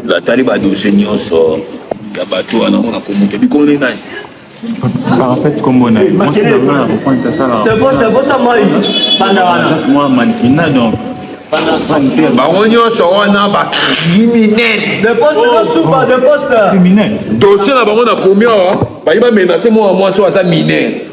natali badose nyonso ya bato wana ngo nakomoto bikombo nde nani ah, en fait kombo na ye mwasi na ngai na kopointe asalaka mwa mankina donc bango nyonso wana bacriminelcriminel dosie na bango nakomi awa bayi bamenase mwana mwasi oyo aza minere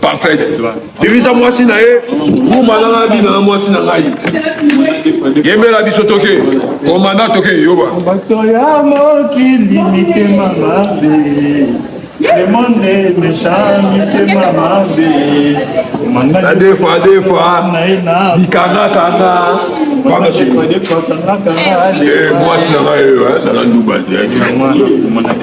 parfaite dirija mwasi na ye ngumba nanga bina na mwasi na ngai yembela biso toke komanda toke yoba bato ya mokili mitema mabe le monde est méchant mitema mabe adefa adefa bikangakanga mwasi na ngai oyo azala nduba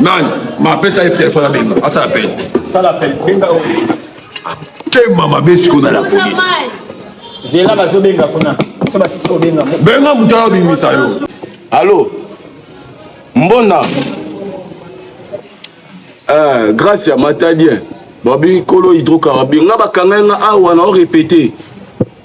nani mapesa ye telefone abenga asala pele tema mabe sikoyo na la polise zela bazobenga kuna so basisi kobenga benga moto ayo bimisa yo alo mbonda eh, grace ya matadien babi kolo hydrocarbure nga bakanga nga awa na orepete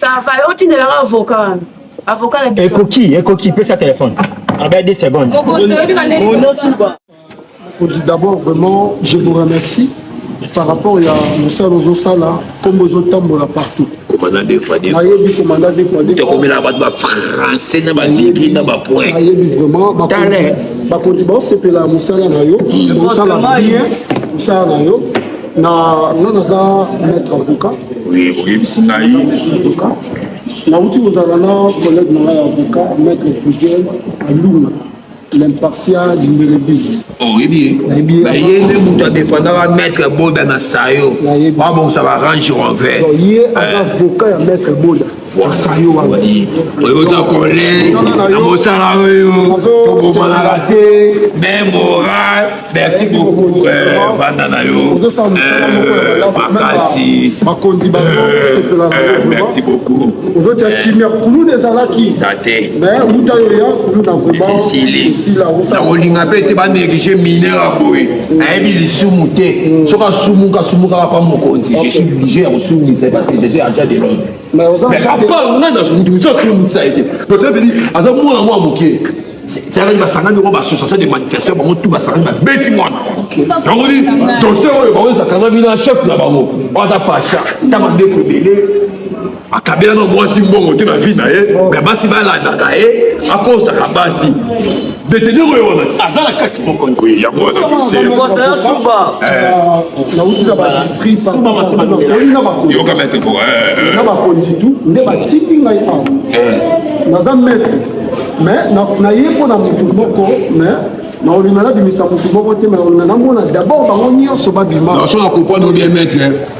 sava otindelaka avoka wana avoka na biso ekoki ekoki pesa telefone abaya 2 secondes mokonzi d'abord vraiment je vous remercie par rapport ya mosala ozosala nkombo ezotambola partout komanda defade nayebi komanda defadekomelaka bato bafrançais na baligi na bapoint nayebi vraiment bakonzi baosepela ya mosala na yo osala bien mosala na yo na nga naza maître avocat oui oyebisi ngai avocat nauti kozala na collègue na ngai ya avocat maître prudel alunga l'impartial mbelebi oyebi ye ye nde moto adefendaka maître boda na sayo babongisa ba range rover ye aza avocat ya maître boda oza kole na mosala oyo tobomanaka te me moral merci beaucoup banda euh, na yo euh, makasi euh, merci beaucoup ozotia kimia kuluna ezalaki eza te uta yo ya kuluna vraimentnakolinga mpe te banéglige mineur ya boye mm. ayebi lisumu te mm. soki asumuka asumukaka mpa mokonzi je suis obligé ya kosumisa parce que je suis agent de l'ordre Mais aux Mais à part nga na musa sur musa été. Donc ça veut dire aza mwana mwa moke. C'est avec basangani oyo bassociation de manifestation bango tout basangani babeti mwana yango di dossier oyo bango ezakangami na chef na bango aza pasha ta bandeko ebele akabela na mwasi mbongo te na vie na ye me basi balandaka ye akosaka basi Betele oyo wana aza na kati moko oui yango wana kosekosa ya suba nauti na badistrict yoka maître po na bakonzi tu nde batindi ngai awa naza maître mais naye mpo na motu moko mais na olinga nabimisa motu moko te mais olinga namona d'abord bango nyonso babima naso na comprendre bien maître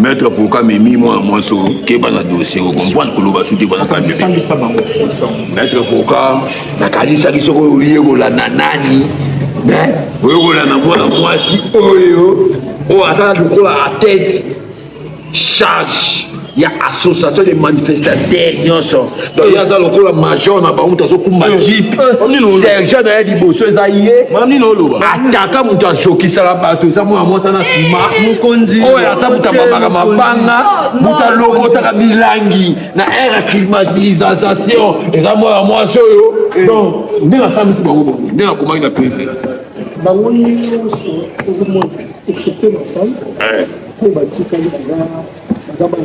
Maître Poka mimi mwana mwasi oyo keba na dossier o comprendre koloba soki bana kambi. Maître Poka nakanisaki soki oyekola na nani mais oyekola na mwana mwasi oyo oyo aza lokola a tête charge ya association de manifestateur nyonso donc ye aza lokola major na bango moto azokumba eh, jeep eh, sergent na ye liboso eza ye ataka moto azokisaka bato eza mwana mwasi na nsima oyo aza moto amamaka mabanga moto alokotaka bilangi na aire ya climatisation eza mwana mwasi oyo eh. donc nde nasambisi bango bongo nde nakomaki na prive bango nyonso ozomona excepte ma femme oyo batikali baza baza bana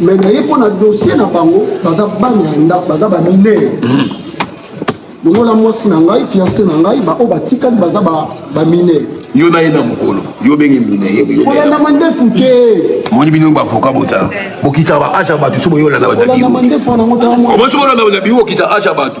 me naye mpo na dossier na bango baza bana ya ndako baza baminere hmm. longola mwasi na ngai fiance na ngai baoyo batikali baza baminere yo na ye na mokolo yo obenge mineyeolanda mandefu te moni bino bavoka bota bokitaka baage ya bato so boyolanda bato na biro omosi bolanda bato na biro okita age ya bato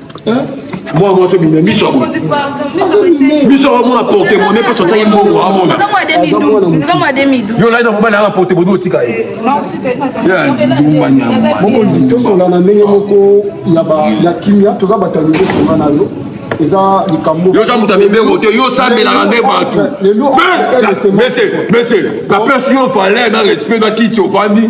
mwana mwasi obima miso yango miso yango amona porte mone mpe sotaki mbongo amona yo olai na mobali yanga porte mone otika ye mokonzi tosola na ndenge moko ya kimia toza bato ya lingi esola na yo eza likambo yo oza moto ya mibeko te yo osambelaka nde bato mese mese napesi yo valeur na respect na kiti ofandi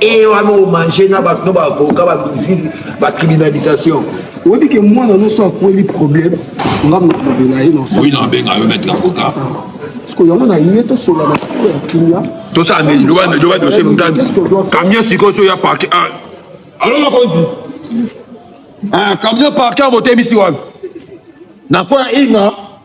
eye wana omange na bato no baavoka bamizizi bacriminalisation oyebi ke mwana nyonso akweli problème nga mokolobela ye oui nabenga yo maître avocat siko yango na ye tosola na kilo ya kimia tosala nini loba loba dossier motani camion sikoyo so ya parke ah. alo makonzi ah, camion parke motemisi wapi na mpo ya inga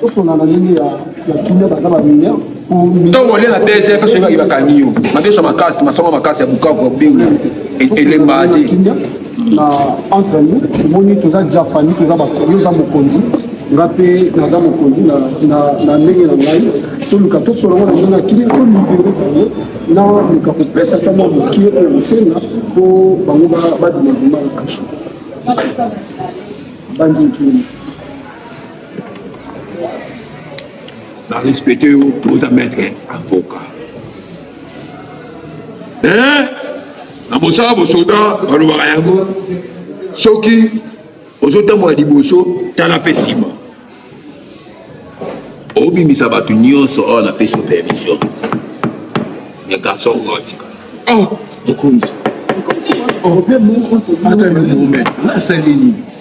tosonga na ndenge ya ya kimia baza ba mineur ntongo olie na bese mpe soki baki bakangi yo mabeso makasi masongo makasi ya bukavu ya beu elemba te na entre nous omoni toza jafani toza yo oza mokonzi nga mpe naza mokonzi na ndenge na ngai toluka tosolola na ndenge akili tolibere bango na luka kopesa ata mwa mokie oyo bosenga mpo bango badima bima na kasho bandinkini Na respecte yo oza maître avocat. Eh, na mosala bosoda balobaka yango soki ozotambola liboso tala mpe nsima obimisa bato nyonso oyo napesi yo permission ya garçon oyo atika mokonzi ata yo mome asali nini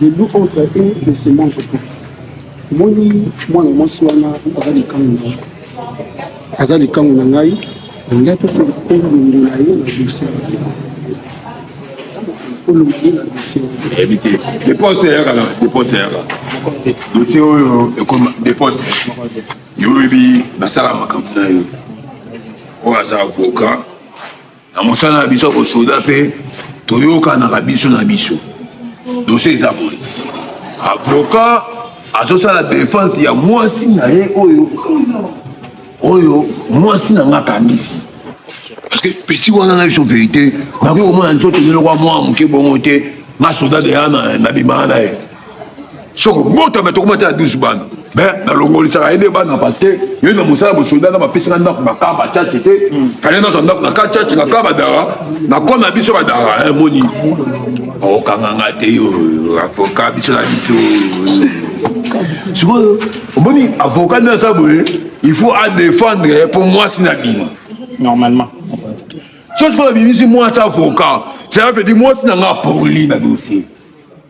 le loup entre eux ne se mange pas omoni mwana mwasi wana aza likangu na aza likangu na ngai olingi apesa olongo na ye na dosie olongo ye na dosie eyebi te depense eyaka na depense eyaka dosie oyo ekoma depense yo oyebi basala makambo na yo oyo aza avocat na mosala na biso ya bosoda mpe toyokanaka biso na biso dosie eza boye avoka azosala defense ya mwasi na ye oyo oyo mwasi na nga akangisi parce que pesi wana na biso verité nakoki komona nzoto nilokwa mwa moke bongo te nga soda deya nabimaka na ye soko botama tokomata ya 12 bana me nalongolisaka ye nde bana parce que ye na mosala bosoda na bapesaka ndako na kaba chache te kale nazwa ndako na ka chache na ka badara na kona ya biso badara eh, moni okanga nga te yo avoka biso na biso sikoyo omoni avoka nde aza boye il faut adefendre mpo mwasi na bima normalement so sikoyo abimisi mwasi avoka cela veut dire mwasi na nga apoli na dossier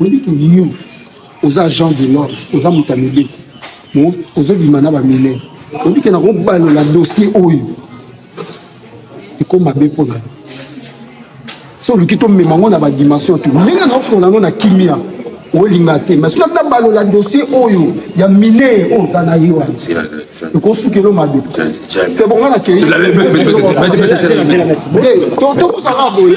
Oyebi ke yo oza agent de l'ordre, oza moto ya mibeko, ozobima na baminere, oyebi ke nakobalola dossier oyo ekoma mabe mpo na yo so oluki tomema yango na badimension tu ndenge naofonga yango na kimia olinga te mais soki ata balola dossier oyo ya mine oyo oza na ye wana ekosukelo mabe se bonga na kei tosukaka boye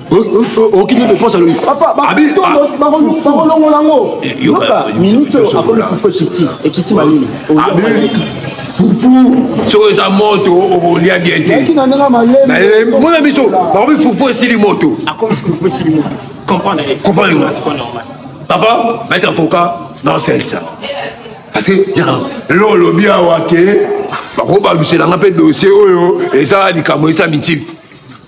okimi depense alobi bakolongola yango yoka minute oyo akomi fufu ekiti ekiti malili fufu soki eza moto okolia bien te mona biso bakomi fufu esili moto papa maître avocat naosalisa parce que lelo olobi awa ke bakobaluselanga mpe dossier oyo eza likambo esa mitile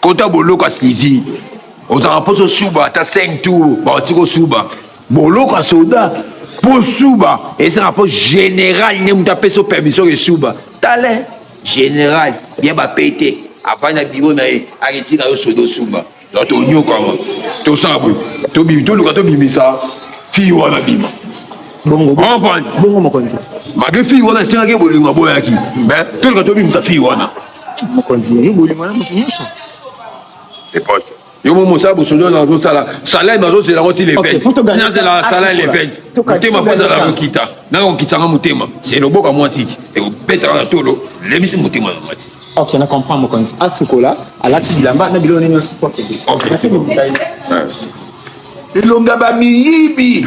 kota boloko asuivi ozalaka mposo suba ata 5 tour baoti kosuba boloko ya soda mpo suba ezalaka mpo general nde moto apesi o permission esuba tale general ya bapete avandi na biro na ye aketika yo soda osuba donc tonyokama tosala boye toluka tobimisa fii wana bima bongo bongo mokonzi mage fii wana esengaki bolingo aboyaki me toluka tobimisa fii wana mokonzi yo bolingo na moto nyonso eposo yo mo mosala bosozo na ozosala salai bazozela yango ti le 20 nazela salai le 20 motema po ezala kokita nanga kokitanga motema se loboka mwasi ti ekobetaka na tolo lebisi motema na mwasi ok na comprend mokonzi asukola alati bilamba na biloko nini nyonso po akende elonga bamiyibi